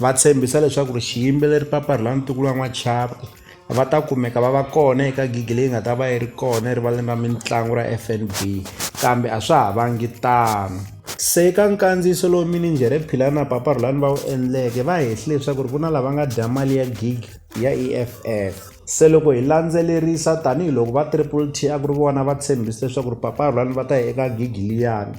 va tshembisa leswaku ri xiyimbeleri papa ri la ni tiko ra n'wachava va ta kumeka va va kona eka gigi leyi nga ta va yi ri kona erivaleni ra mitlangu ra fnb kambe a swa ha vangi tano se ka nkandziyiso lowu minijhere philana papa rhulani va wu endleke va hehli leswaku ri ku na lava nga dya mali ya gigi ya e f f se loko hi landzelerisa tanihiloko va triple t a ku ri vona va tshembise leswaku ri papa rhulani va ta ya eka gigi liyani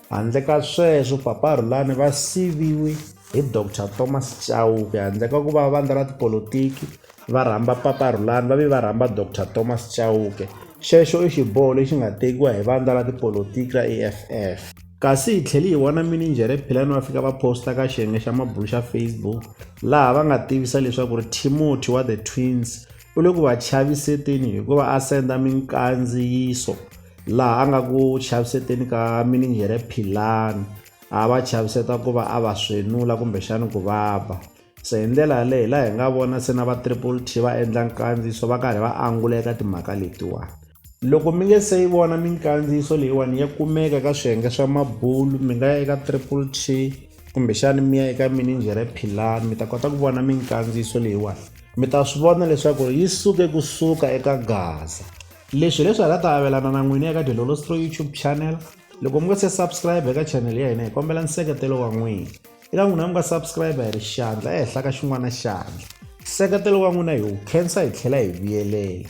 Handle ka sweswo, Papa Rhulani va siviwe hi Doctor Thomas Chauke. Handle ka ku va vandla ra tipolotiki va rhamba Papa Rhulani, va ve va rhamba Doctor Thomas Chauke. Xexo i xiboho lexi nga tekiwa hi vandla ra tipolotiki ra EFF. Kasi hi tlhele hi vona mininjhere Philani va fika va posta ka xiyenge xa mabulo xa Facebook laha va nga tivisa leswaku ri Timothy wa The Twins u le ku va chaviseteni hi ku va a senda minkandziyiso laha a nga ku chaviseteni ka minijhere philani a va chaviseta ku va a va swenula kumbexani ku va ba se hi ndlela yaleyo hi laha hi nga vona se na va triple t va endla nkandziyiso va karhi va angula eka timhaka letiwani Loko mi nge se yi vona minkandziyiso leyiwani ya kumeka ka swiyenge swa mabulu mi nga ya eka triple t kumbexani mi ya eka mininjhere philani mi ta kota ku vona minkandziyiso leyiwani mi ta swi vona leswaku yi suke kusuka eka gaza leswi hileswi hi nga ta avelana na n'wini eka delolostro youtube channel loko mi nga se subscribe eka channel ya hina hi kombela nseketelo wa n'wina eka n'wina mi nga subscribe hi ri xandla ehenhla ka xin'wana xandla nseketelo wa n'wina hi wu khensa hi tlhela hi vuyelela